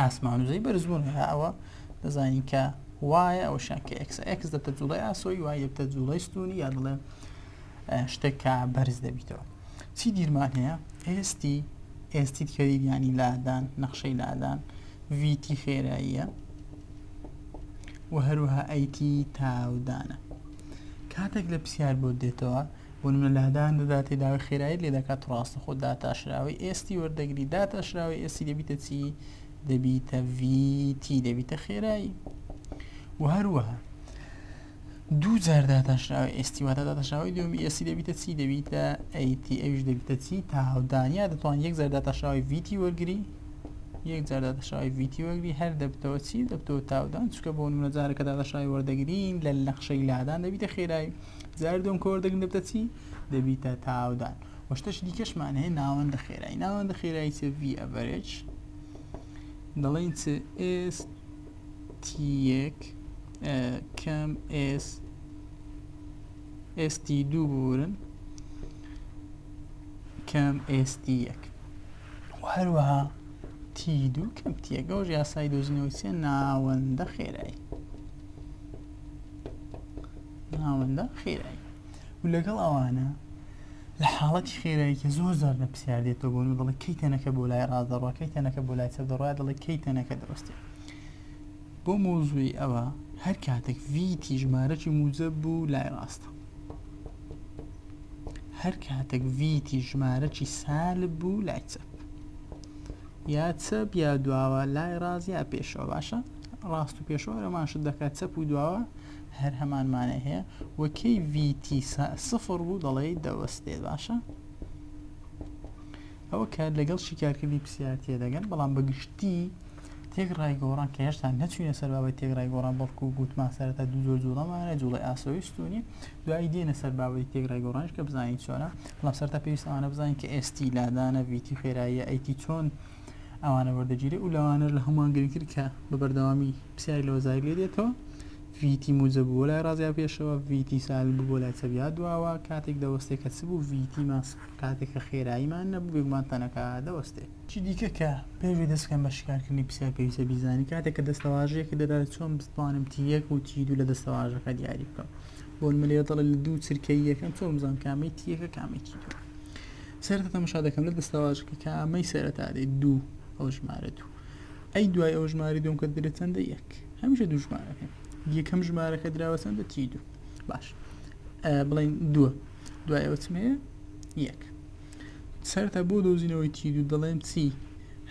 ئاسمان و زەوی بەرز بوون هەر ئەوە دەزانین کە وایە ئەو شان کە ئەکس ئەکس دەبتە جوڵی ئاسۆی وای دەبتە جوڵی ستونی یا دڵێ شتێکە بەرز دەبیتەوە چی دیرمان هەیە ئێستی ئێستی کەری ینی لادان نەخشەی لادان ویتی خێراییە و هەروها ئەیتی تاودانە کاتێک لە پرسیار بۆ دێتەوە بۆ نمونە لە هەدان دەداتێ داوای خێرایت لێ دەکات ڕاستەخۆ داتاشراوەی ئێستی وەردەگری داتاشراوەی ئێستی دەبیتە چی دەبیتە ویتی دەبیتە خێرایی و هەروەها دوو جار داتاشراوە ئێستی واتە داتاشراوی دومی ئێسی دەبیتە چی دەبیتە ئەیتی ئەوش دەبیتە چی تاهودانیا دەتوان یەک جار داتاشراوی ویتی وەرگری یەک جار داتاشراوی ویتی وەرگری هەر دەبتەوە چی دەبتەوە تاودان چکە بۆ نمونە جارەکە داتاشراوی وەردەگرین لە نەخشەی لادان دەبیتە خێرایی جار دوم کۆر دەگن دەبتە چی دەبیتە تاودان وەشتەش دیکەشمان هەیە ناوەندە خێرایی ناوەندە خێرایی چ ڤ ئەڤەرێج دەڵێن چ ئێس تیەک کەم ئێس ئێستی دوو بورن کەم ئێستی یەک هەروەها تی دوو کەم تیەگەۆژ یاسای دۆزینەوەی چێ ناوەندە خێرایی ناوەندە خێرایی و لەگەڵ ئەوانە لە حاڵەتی خێرایی کە زۆر زار لە پرسیار دێتەوە بۆن و دەڵێ کەی تەنەکە بۆ لای ڕاست دەڕوا کەی تەنەکە بۆ لای چەپ دەڕوا دەڵێ کەی تەنەکە دەوەستێ بۆ مۆزوی ئەوە هەر کاتێک ڤیتی ژمارەی موجە بوو لای ڕاستە هەر کاتێک ڤیتی ژمارەی سال بوو لای چەپ یا چەپ یا دواوە لای ڕاز یا پێشەوە باشە ڕاست و پێشەوە ئەمانشت دەکات چەپ و دواوە هەر هەمان مانای هەیە و کەی VT سفر بوو دەڵێی دەوەستێ باشە ئەوە کە لەگەڵ شیکارکردنی پرسیار تێدەگەن بەڵام بەگشتی تێک ڕای گۆڕان کە هێشتا نەچوینە سەر باوەی تێک ڕای گۆڕان بەڵکو گوتمان سەرەتا دوو زۆر جوڵەمانە جوڵی ئاسۆیستونی دوایی دێنە سەر باوەی تێک ڕای گۆڕانش کە بزانین چۆنە بەڵام سەرتا پێویستوانە بزانین کە ئێستی لادانە ویتی خێراییە ئەیتی چۆن ئەوانە وەردەگیرێ و لەوانەر لە هەمووان گرنگتر کە بە بەردەوامی پسیاری لەوە زای لێ دێتەوە ڤیتی موجە بوو لای ڕازیا پێشەوە ڤیتی سال بوو بۆ لای چەبیا دواوە کاتێک دەوەستێ کە چ بوو ڤیتیمان کاتێک کە خێراییمان نەبوو بێگومان تەنەکە دەوەستێ چی دیکە کە پێوی دەستکەم بە شکارکردنی پسیار پێویستە بیزانی کاتێک کە دەستەواژەیەکە دەدات چۆن بتوانم تی یەک و تی دوو لە دەستەواژەکە دیاری بکەم بۆ نمە لێرە دەڵێ لە دوو چرکەی یەکەم چۆن بزانم کامەی تی یەکە کامەی تی دوو سێرتە تەمەشا دەکەم لە دەستەواژەکە کە ئەمەی سەرەتا دێ دوو ئەو ژمارە دوو ئەی دوای ئەو ژماری دوم کە درێت چەندە یەک هەمیشە دوو ژمارەکە یەکەم ژمارەکە دراوە چەندە تی دوو باش بڵین دووە دوای ئەوە چمەیە یەک سەرتا بۆ دۆزینەوەی تی دوو دەڵێم چی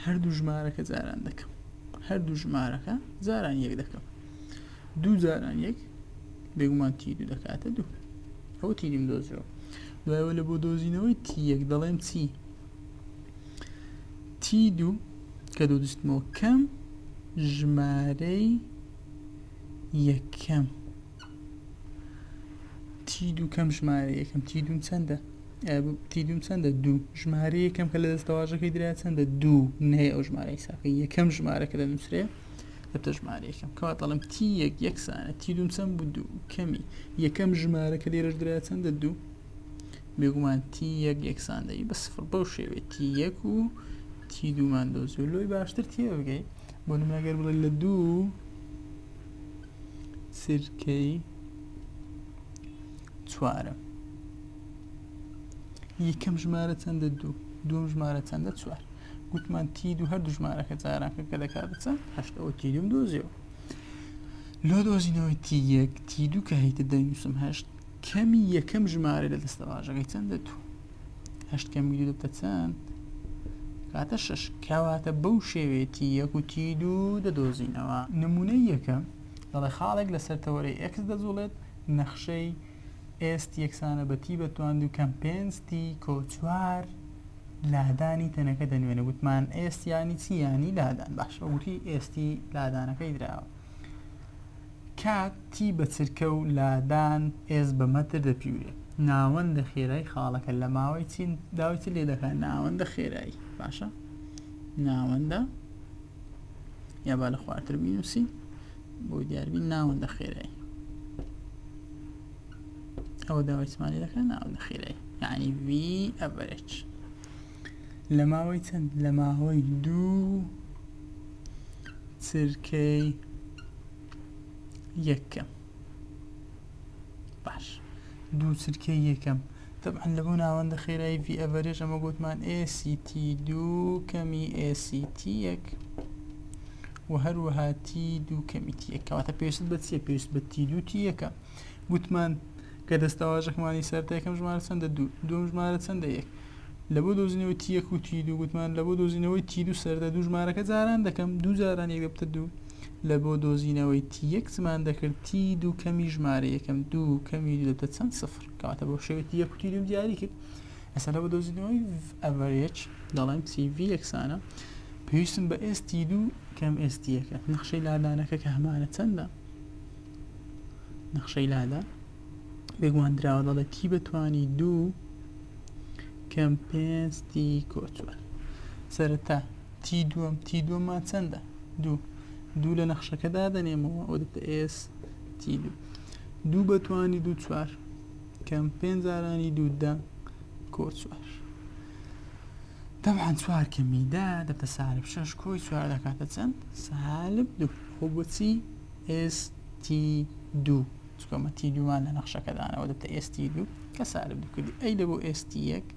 هەردوو ژمارەکە جاران دەکەم هەردوو ژمارەکە جاران یەک دەکەم دوو جاران یەک بێگومان تی دوو دەکاتە دوو ئەوە تینیم دۆزیەوە دوایەوە لە بۆ دۆزینەوەی تی یەک دەڵێم چی تی دوو کە دوو دشتمەوە کەم ژمارەی یەکەم تی دوو کەم ژمارە یەکەم تی دوم چەندە تی دوم چەندە دوو ژمارە یەکەم کە لە دەستەواژەکەی درا چەندە دوو نەیە ئەو ژمارە حیساکە یەکەم ژمارە کە دەنووسرێ هەتا ژمارە یەکەم کەوا دەڵم تی یەک یەکسانە تی دوم چەند بوو دوو کەمی یەکەم ژمارە کە لێرەش درا چەندە دوو بێگومان تی یەک یەکسان دەی بە سفر بەو شێوێ تی یەک و تی دوومان دۆزی و لۆی باشتر تێ بگەی بۆ نمەگەر بڵێ لە دوو سرکەی چوارە یەکەم ژمارە چەندە دوو دوم ژمارە چەندە چوار گوتمان تی دوو هەر دوژمارەکە جارانکە کە دەکاتە چەند هەشت ئەوە تی دوم دۆزیەوە لۆ دۆزینەوەی تی یەک تی دوو کە هیتە دەنووسم هەشت کەمی یەکەم ژمارە لە دەستە باژەکەی چەند دە دوو هەشت کەمی دوو دەبتە چەند کاتە شش کەواتە بەو شێوێتی یەک و تی دوو دەدۆزینەوە نمونەی یەکەم دەڵێ خاڵێک لەسەر تەوەرەی ئەکس دەجوڵێت نەخشەی ئێست یەکسانە بەتی بە توان دوو کەم پێنج تی کۆچوار لادانی تەنەکە دەنوێنێ گوتمان ئێست ینی چی ینی لادان باش ئەوتی ئێستی لادانەکەی دراوە کاتی بە چرکە و لادان ئێز بە مەتر دەپیورێ ناوەندە خێرای خاڵەکە لە ماوەی چین داوی چ لێ دەکات ناوەندە خێرایی باشە ناوەندە یا با لە خوارتر بینوسی بۆ دیاربین ناوەندە خێرایی ئەوە داوای سمانی دەکەن ناو نەخیرەی یعنی وی ئەڤرێج لە ماوەی چەند لە ماوەی دوو چرکەی یەکەم باش دوو چرکەی یەکەم طبعا لە بۆ ناوەندە خێرایی وی ئەڤرێج ئەمە گوتمان ئێسی تی دوو کەمی ئێسی تی یەک و هەروەها تی دوو کەمی تیە کەواتە پێویست بە چیە پێویست بە تی دوو تی یەکە گوتمان کە دەستەواژەکمانی سەرتا یەکەم ژمارە چەندە دوو دوم ژمارە چەندە یەک لە بۆ دۆزینەوەی تی یەک و تی دوو گوتمان لە بۆ دۆزینەوەی تی دوو سەردە دوو ژمارەکە جاران دەکەم دوو جاران یەک دەبتە دوو لە بۆ دۆزینەوەی تی یەک زمان دەکرد تی دوو کەمی ژمارە یەکەم دوو کەمی دوو دەبتە چەند سفر کەواتە بۆ شێوەی تی یەک و تی دوم دیاری کرد مەسەلە بە دۆزینەوەی ئەڤەرێج دەڵێم CV یەکسانە پێویستم بە ئێستی دوو کەم ئێستیەکە نەخشەی لادانەکە کە هەمانە چەندە نەخشەی لادا بێگومان دراوە دەڵێت تی بەتوانی دوو کەم پێستی کۆچوار سەرەتا تی دووەم تی دووەمان چەندە دوو دوو لە نەخشەکەدا دەنێمەوە ئەو دەتە ئێس تی دوو دوو بەتوانی دوو چوار کەم پێنج زارانی دوو دە کۆ چوار تەبعەن چوار کەمی دا دەبتە سالب شەش کۆی چوار دەکاتە چەند سالب دوو خۆ بۆچی ئێستی دوو چکۆمە تی دوومان لە نەخشەکەدانەوە دەبتە ئێستی دوو کە سالب دوو کردی ئەی دەبوو ئێستی یەک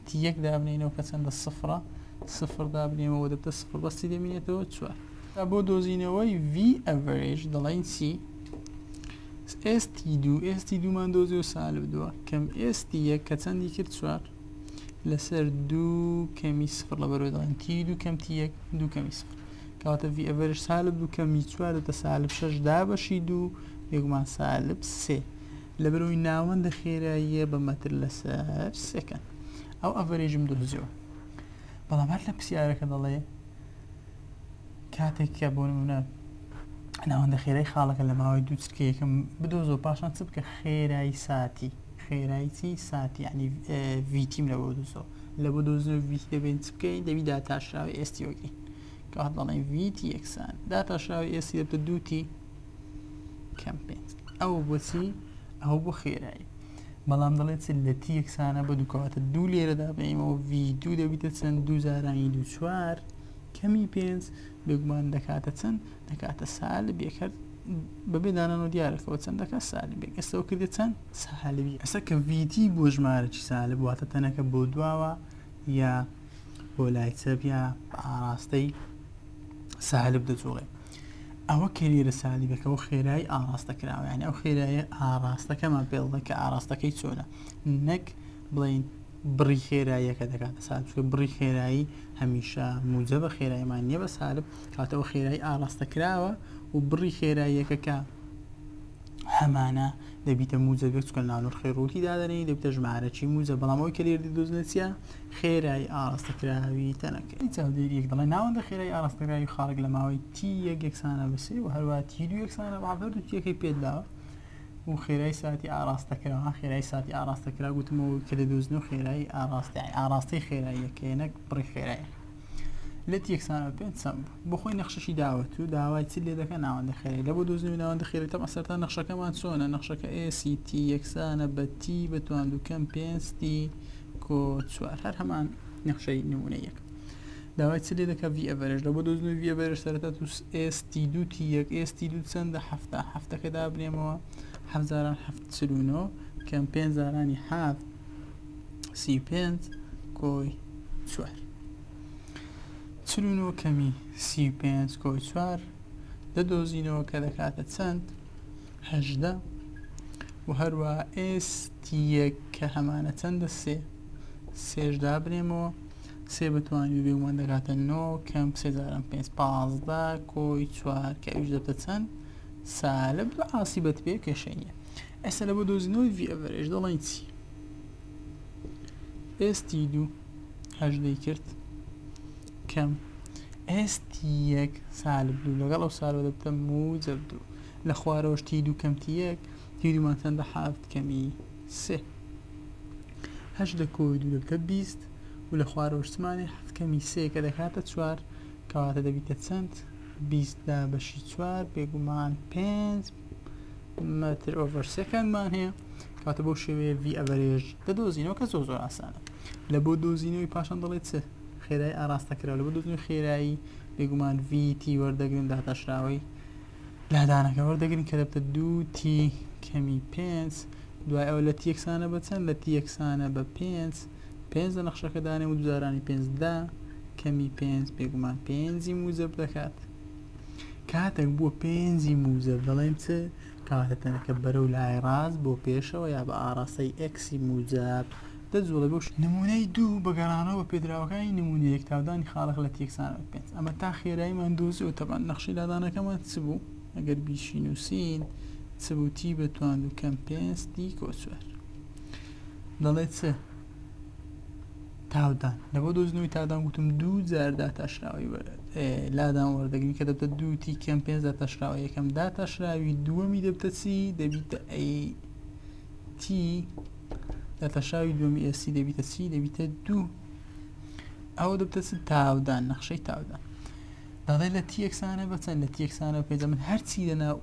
تی یەک دابنینەوە کە چەندە سفرە سفر دابنێمەوە دەبتە سفر بەستی دەمینێتەوە چوار جا بۆ دۆزینەوەی V average دەڵێین چی؟ ئێستی دوو ئێستی دوومان دۆزی و سالب دووە کەم ئێستی یەک کە چەندی کرد چوار لەسەر دوو کەمی سفر لە بەرەوە دەڵێن تی دوو کەم تی یەک دوو کەمی سفر کەواتە ڤی ئەڤەرش سالب دوو کەمی چوار دەتە سالب شەش دا بەشی دوو یەکمان سالب سێ لە بەرەوەی ناوەندە خێراییە بە مەتر لەسەر سێکەن ئەو ئەڤەرێژم دۆزیەوە بەڵام هەر لە پرسیارەکە دەڵێ کاتێک کە بۆ نمونە ناوەندە خێرای خاڵەکە لە ماوەی دوو چرکە یەکەم بدۆزۆ پاشان چ بکە خێرایی ساتی خێرایی چی ساتی ینی ڤیتیم لە بۆ دوزۆ لە بۆ دۆزن و ڤیتی دەبێن چ بکەین دەبی داتاشراوی ئێستی وەگەین کات بەڵێن ڤیتی یەکسان داتاشراوی ئێستی دەبتە دووتی کەم پێنج ئەو بۆچی ئەو بۆ خێرایی بەڵام دەڵێت لە تی یەکسانە بە دووکەواتە دوو لێرەدا بەیمەوە ڤی دوو دەبیتە چەند دوو جارانی دوو چوار کەمی پێنج بێگومان دەکاتە چەند دەکاتە سالبێک هەر بەبێ دانانەوە دیارەکەەوە چەند دەکات سالبێک ئێستەوە کردێت چەند سالبی ئەسە کە ڤیتی بۆ ژمارەی سالب واتە تەنەکە بۆ دواوە یا بۆ لای چەپ یا ئاراستەی سالب دەجوڵێ ئەوە کەریرە سالیبەکە و خێرایی ئاراستە کراوەیان ئەو خێرایە ئاراستەکەمان پێڵدە کە ئاراستەکەی چۆنە نەک بڵین بڕی خێراییەکە دەکاتە سالب چونکە بڕی خێرایی هەمیشە موجبە خێرایمان نیە بە سالب کاتە ئەو خێرایی ئاراستە کراوە و بڕی خێراییەکە کە هەمانە دەبیتە موجبێک چکە ناونەر خێڕوتی دادەنی دەبتە ژمارەی موجە بەڵام ئەوی کەلێردی دۆزنەچە خێرایی ئاراستەکراوی تەنەکە چاودێریەک دەڵێ ناوەندە خێرای ئاراستەکراوی خاڵک لە ماوەی تی یەک یەکسانە بەسێ و هەروە تی دو یەکسانە بە هەردوو تیەکەی پێداوە و خێرای ساتی ئاڕاستەکرا خێرای ساتی ئاڕاستەکرا گوتمەوە کە دەدۆزن و خێرایی ئاڕاستای ئاڕاستەی خێراییەکەی نەک بڕی خێرای لە تێکسانەوە پێ چەند بخۆی نەخشەشی داوەت و داوای چ لێ دەکە ناوەندە خێری لە بۆ دۆزن و ناوەندە خێری تەم ئەسەرتا نەخشەکەمان چۆنە نەخشەکە ئێST یەکسانە بە تی بە توان دوکەم پێنجتی کۆ چوار هەر هەمان نەخشەی نمونە یەک داوای چ لێ دەکە ڤی ئەڤەرێژ لە بۆ دۆزنەوەی ڤی ئەڤەرێژ سەرەتا تو ئێستی دوو تی یەک ئێستی دوو چەندە هەفتا هەفتەکە دابنێمەوە هەزاران هەفت چلونۆ کەم پێنجزارانی هەفت سی پێنج کۆی چوار چلونۆ کەمی سی پێنج کۆی چوار دەدۆزینەوە کە دەکاتە چەند هەژدە و هەروە ئێستی یەک کە هەمانە چەندە سێ سێش دابنێمەوە سێ بەتوانی و بێگومان دەگاتە نۆ کەم سێ جاران پێنج پازدە کۆی چوار کە ئەویش دەبتە چەند سالب بە ئاسی بەت پێ کێشەی نیە ئێستا لە بۆ دۆزینەوەی ڤی ئەڤەرێژ دەڵێن چی ئێستی دوو هەژدەی کرد کەم ئێستی یەک سالب دوو لەگەڵ ئەو سالۆ دەبتە موجب دوو لە خوارەوەشتی دوو کەمتی یەک تیدومان چەندە حافت کەمی سێ. هەشت لە کۆی دوو دەبتە بیست و لە خوارەوە شتمانێ حەفت کەمی سێ کە دەکاتە چوار کەواتە دەبیتە چەند؟ بیست لە بەشی چوار بێگومان پێنج مەتر ئۆڤەر سێکەندمان هەیە کەواتە بەو شێوەیە ڤی ئەڤەرێژ دەدۆزینەوە کە زۆر زۆر ئاسانە لە بۆ دۆزینەوەی پاشان دەڵێت چ خێرای ئاراستە کرا لە بۆ دۆزینەوەی خێرایی بێگومان ڤی تی وەردەگرن داتاشراوەی لادانەکە وەردەگرین کە دەبێتە دوو تی کەمی پێنج دوای ئەوە لە تی یەکسانە بە چەند لە تی یەکسانە بە پێنج پێنج لە نەخشەکە دانێ و دوزارانی پێنجدا کەمی پێنج بێگومان پێنجی موزب دەکات کاتێک بووە پێنجی موزب دەڵێن چ کاتە تەنەکە بەرە و لای ڕاست بۆ پێشەوە یا بە ئاراستەی ئەکسی موزب دە جووڵەی بەو شێوەیە. نموونەی دوو، بە گەڕانەوە بە پێدراوەکانی نموونە یەک، تاودانی خاڵێک لە تێکسانەوەی پێنج. ئەمە تا خێراییمان دۆزیەوە. تەبعەن نەخشەی لادانەکەمان چ بوو؟ ئەگەر بیشینووسین چ بوو؟ تی بە تواندوو کەم پێنج تی کۆ چوار. دەڵێ چ؟ تاودان. لە بۆ دۆزینەوەی تاودان گوتم دوو جار داتاشراوەی لادان وەردەگرین کە دەبتە دوو تی کەم پێنج داتاشراوە یەکەم داتاشراوی دووەمی دەبتە چی؟ دەبیتە ئەی تی دەتەشاوی دووەمی ئێسی دەبیتە چی دەبیتە دوو ئەوە دەبتە چ تاودان نەخشەی تاودان دەڵێ لە تیەکسانە بەچەند لە تیەکسانە پێجە من هەرچی لەناو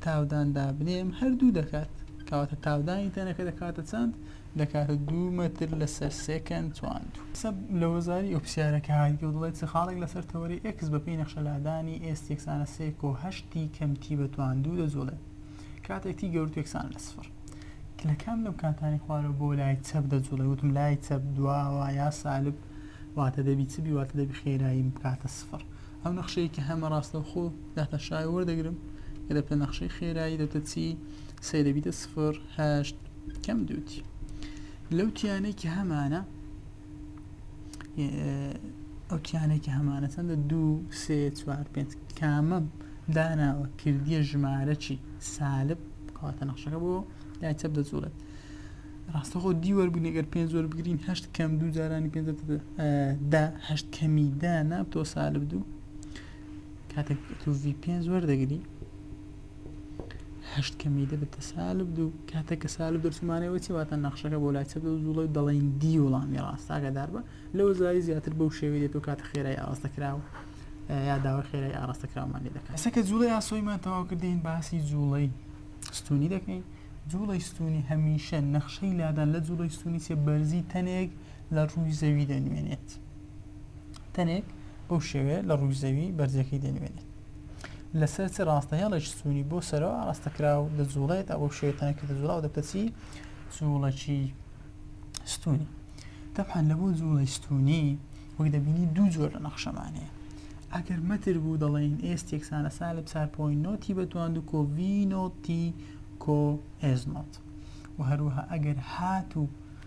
تاوداندا بنێم هەردوو دەکات کەواتە تاودانی تەنەکە دەکاتە چەند دەکاتە دوو مەتر لەسەر سێکەند چوان سەب لە وەزاری ئەو پرسیارەکە هاگی و دڵێت خاڵێک لەسەر تەوەری ئەکس بەپی نەخشەلادانی ئێستێکسانە سێکۆ هەشتی کەمتی بەتوان دوو دەجوڵێت کاتێک تی گەورت یەکسانە لە سفر. لە کام لەو کاتانی خوارەوە بۆ لای چەپ دەجوڵێ وتم لای چەپ دواوە یا سالب واتە دەبی چ بی واتە دەبی خێرایی بکاتە سفر ئەو نەخشەیە کە هەمە ڕاستەوخۆ داتە شای وەردەگرم کە دەبتە نەخشەی خێرایی دەتە چی سێ دەبیتە سفر هەشت کەم دووتی لەو تیانەی کە هەمانە ئەو کیانێکی هەمانە چەندە دوو سێ چوار پێنج کامە داناوە کردیە ژمارەی سالب کاتە نەخشەکە بۆ لای چەپ دەجوڵێت ڕاستەخۆ دی وەربوون ئەگەر پێنج زۆر بگرین هەشت کەم دوو جارانی پێ دا هەشت کەمی دا نابتەوە سالب دوو کاتێک تۆڤی پێنج وەردەگری هەشت کەمی دە بە تەسالب دوو کاتە کە سالب دەرچمانەوە چی واتە نەخشەکە بۆ لای چەدە زوڵە و دەڵێن دی وڵامی ڕاستاگەدار بە لەوە زاری زیاتر بەو شێوی دێت و کاتە خێرای ئاستە کراوە یا داوای خێرای ئاراستە کراومان لێ دەکات سەکە جوڵی ئاسۆیمان تەواو کردین باسی جوڵەی ستونی دەکەین جوڵی ستونی هەمیشە نەخشەی لادان لە جوڵی ستونی چێ بەرزی تەنێک لە ڕووی زەوی دەنوێنێت. تەنێک بەو شێوەیە لە ڕووی زەوی بەرزەکەی دەنوێنێت لەسەر چ ڕاستە هێڵێکی سوونی بۆ سەرەوە ئاراستە کراو دەجوڵێت ئەو شێوە تەنەکە دەجوڵا و دەپەچی جوڵەکی ستونی تەبحان لە بۆ جوڵی ستونی وەک دەبینی دوو جۆر لە نەخشەمانەیە ئەگەر مەتر بوو دەڵێن ئێس تێکسانە سالب چار پۆین نۆتی بەتوان و کۆڤینۆتی کۆ ئێزمۆت و هەروەها ئەگەر هات و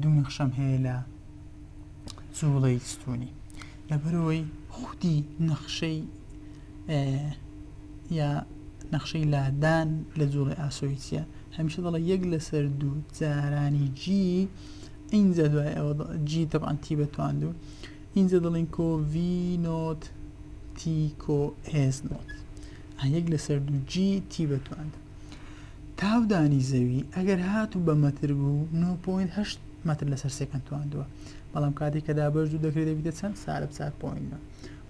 دوو نەخشەم هەیە لە جوڵەی ستونی لەبەرەوەی خودی نەخشەی یا نەخشەی لادان لە جوڵی ئاسۆیسە هەمیشە دەڵە یەک لەسەر دوو جارانی جی ئینجا دوای ئەوە جی تەبانتی بەتواند و ئینجا دەڵین کۆ وی نۆت تی کۆ هێز نۆت یەک لەسەر دوو جی تی بەتواند تاودانی زەوی ئەگەر هات و بە مەتر بوو 9.8 مەتر لەسەر سێکەند تواندووە بەڵام کاتێک کە دابش دوو دەکرێت دەبیتە چەند سارە بچار پۆینە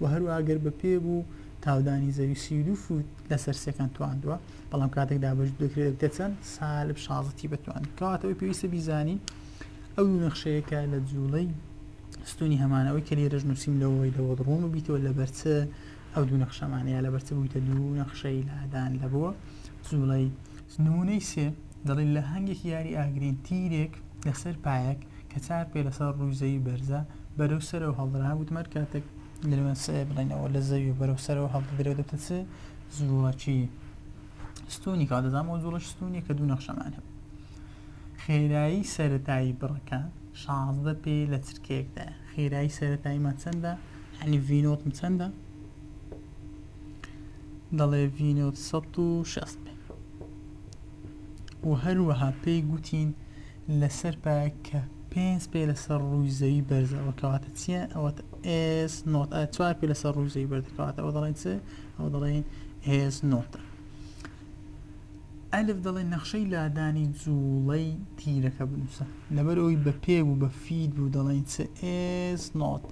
و هەروواگەر بە پێ بوو تاودانی زەوی سی دو فوت لەسەر سێکەند تواندووە بەڵام کاتێک دابش دەکرێت دەبیتە چەند سالب شازەتی بتوان کاتەوەی پێویستە بیزانین ئەو نەخشەیەکە لە جوڵەی ستونی هەمانەوەی کە لێرەش نووسیم لەوەی لەوە ڕۆن و بیتەوە لە بەرچە ئەو دوو نەخشەمان یا لەبەر چ بوویتە دوو نەخشەی لادان لە بۆ جوڵەی نمونەی سێ دەڵی لە هەنگێکی یاری ئاگرین تیرێک لەسەر پایەک کە چار پێ لەسەر ڕووزەوی بەرزە بەرەو سەرەوە هەڵدرا وتمەر کاتێک لەوێن سێ بڵێنەوە لە زەوی بەرەو سەرەوە هەڵدرێ دەتە چ زوڵەکی ستونی کاتەزانەوە جوڵەش ستونی کە دوو نەخشەمان هەبوو خێرایی سەرەتایی بڕەکە شازدە پێ لە چرکەیەکدایە خێرایی سەرەتاییمان چەندە یعنی ڤینۆتم چەندە دەڵێ ڤینۆت 1600 پێ و هەروەها پێی گوتین لەسەر پایە کە پێنج پێ لەسەر ڕووی زەوی بەرزەوە کەواتە چییە ئەوە ئس نۆت چوار پێ لەسەر ڕووی زەوی بەردەکەواتە ئەوە دەڵێن چ ئەوە دەڵێن هێز نۆتە ئەلف دەڵێ نەخشەی لادانی جوڵەی تیرەکە بنووسە لەبەر ئەوی بە پێ بوو بە فید بوو دەڵێن چ ئێس نۆت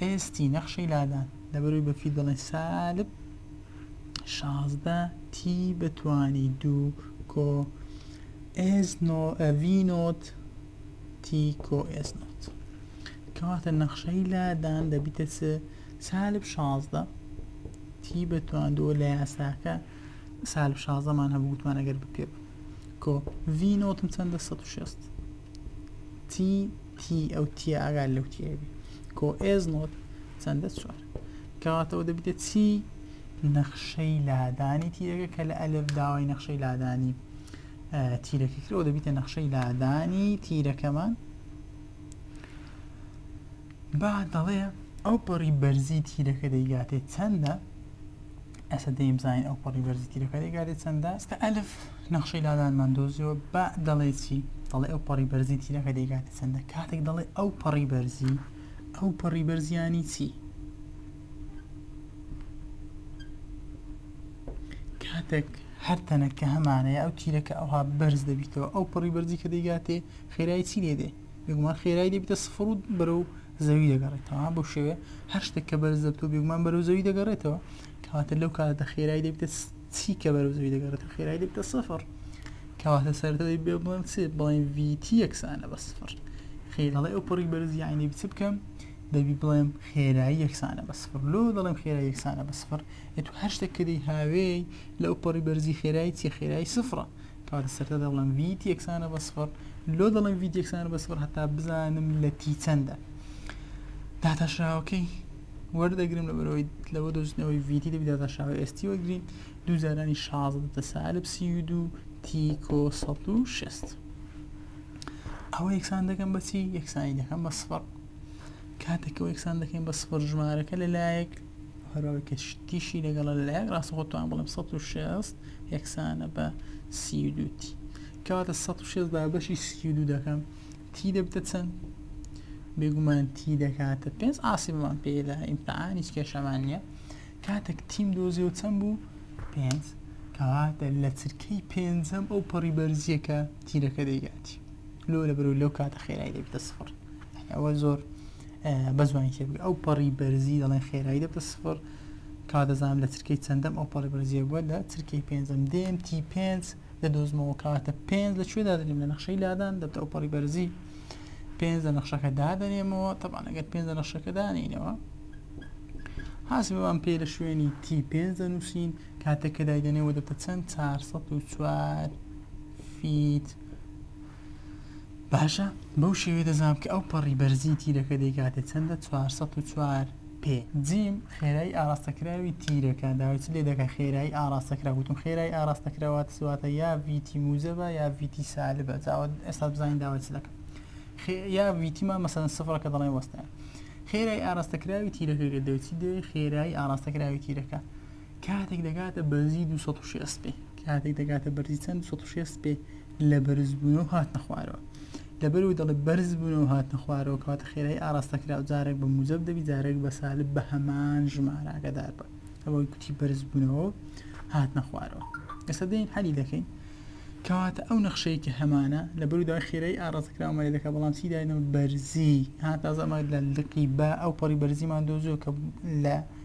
ئێستی نەخشەی لادان لەبەروی بە فید دەڵێن سالب شازدە تی بەتوانی دوو کۆ ئێس نۆ ئەڤی نۆت تی کۆ ئێس نۆت کەواتە نەخشەی لادان دەبیتە چ سالب شازدە تی بە تواندووە لە یاساکە سالب شازدەمان هەبوو گوتمان ئەگەر بپێ کۆ ڤی نۆتم چەندە 16 تی تی ئەو تی ئاگال لەو تیبی کۆ ئێز نۆت چەندە چوار کەواتەوە دەبێت چی نەخشەی لادانی تیرەکە کە لە ئەلف داوای نەخشەی لادانی تیرەکە کرەوە دەبیتە نەخشەی لادانی تیرەکەمان با دەڵێ ئەو پەڕی بەرزی تیرەکە دەیگاتێ چەندە ئەسە دەیم زانین ئەو پەڕی بەرزی تیرەکە دەیگاتێ چەندە ئەستا ئەلف نەخشەی لادانمان دۆزیەوە با دەڵێ چی دەڵێ ئەو پەڕی بەرزی تیرەکە دەیگاتێ چەندە کاتێک دەڵێ ئەو پەڕی بەرزی ئەو پەڕی بەرزیانی چی کاتێک هەر تەنەکە هەمانەیە ئەو تیرەکە ئەوها بەرز دەبیتەوە ئەو پڕی بەرزی کە دەیگاتێ خێرایی چی لێ دێ بێگومان خێرای دەبیتە سفر و بەرەو زەوی دەگەڕێتەوە بۆ شێوێ هەر شتێک کە بەرز دەبتەوە بێگومان بەرەو زەوی دەگەڕێتەوە کەواتە لەو کاتە خێرای دەبیتە چی کە بەرەو زەوی دەگەڕێتەوە خێرای دەبیتە سفر کەواتە سەرەوەی بێ بڵێم چێ بڵێن ڤیتی یەکسانە بە سفر خێرەڵێ ئەو پڕی بەرز یاینێ بچ بکەم دەبی بڵێم خێرایی یەکسانە بە سفر لۆ دەڵێم خێرای یەکسانە بە سفر ئەتو هەر شتێک کردی هاوێی لەو پڕی بەرزی خێرایی چی خێرای سفرە تا لە سەرەتا دەڵێم ڤیت یەکسانە بە سفر لۆ دەڵێم ڤیت یەکسانە بە سفر هەتا بزانم لە تی چەندە داتاشراوەکەی وەردەگرم لە بەرەوەی لەوە دۆزنەوەی ڤیتی دەبی داتاشراوە ئێستی وەگرین دوو جارانی شازدە سالب سی و دوو تیکۆ سەد و شست ئەوە یەکسان دەکەم بەچی یەکسانی دەکەم بە سفر کاتێکەوە یەکسان دەکەین بە سفر ژمارەکە لەلایەک هەرەوەی کە تیشی لەگەڵە لە لایەک ڕاستەخۆ توان بڵم 16 یەکسانە بە سیدو تی کەواتە 16 بە بەشی سیدو دەکەم تی دەبتە چەند بێگومان تی دەکاتە پێنج ئاسیبمان پێدا ئیمتحان هیچ کێشەمان نییە کاتێک تیم دۆزی و چەند بوو پێنج کەواتە لە چرکەی پێنجەم ئەو پەڕی بەرزیەکە تیرەکە دەیگاتی لۆ لە بەرو لەو کاتە خێرای دەبێتە سفر ئەوە زۆر بە زوانی تێ ئەو پەڕی بەرزی دەڵێن خێرای دەبتە سفر کا دەزانام لە ترکەی چەندەم ئەو پەڕی بەرزیە بووە لە ترکەی پێنجم دێم تی پێنج لە دۆزمەوە کاتە پێنج لە کوێدا دەنێم لە نەخشەی لادان دەبتە ئەو پەڕی بەرزی پێنج لە نەخشەکە دادەنێمەوە تەبان ئەگەر پێنج لە نەخشەکە دانینەوە حاسبمان پێ لە شوێنی تی پێنج دەنووسین کاتەکە دایدەنێەوە دەبتە چەند 4 فیت باشە بەو شێوەیە دەزانم کە ئەو پەڕی بەرزی تیرەکە دەیکاتێ چەندە 404 پێ جیم خێرایی ئاراستەکراوی تیرەکە داویچ لێ دەکە خێرایی ئاراستەکرا وتم خێرایی ئاراستەکراوات سواتە یا ویتی موزەبە یا ویتی سالبە جاوە ئێستا بزانین داوەچ لەکە یا ویتیمان مەسەن سفرەکە دەڵێ وەستە خێرای ئاراستەکراوی تیرەکە گەدەوچی دەوێت خێرایی ئاراستەکراوی تیرەکە کاتێک دەگاتە بەرزی دوو سەد و شێست پێ کاتێک دەگاتە بەرزی چەند دوو سەد و شێست پێ لە بەرزبوونەوە هاتنە خوارەوە لەبەرەوەی دەڵێ بەرز بوونەوە هاتنە خوارەوە کەواتە خێرای ئاراستە کرا و جارێک بە موجب دەبی جارێک بە سالب بە هەمان ژمارە ئاگادار بە ئەوەی کوتی بەرز بوونەوە و هاتنە خوارەوە ئێستا دێن حەلی دەکەین کەواتە ئەو نەخشەی کە هەمانە لە بەرودای خێرای ئاڕاستکراومەێ دەکە بەڵام چی داینەوە بەرزی ها تازەمە لە لقی بە ئەو پەڕی بەرزیمان دۆزیەوە کە لە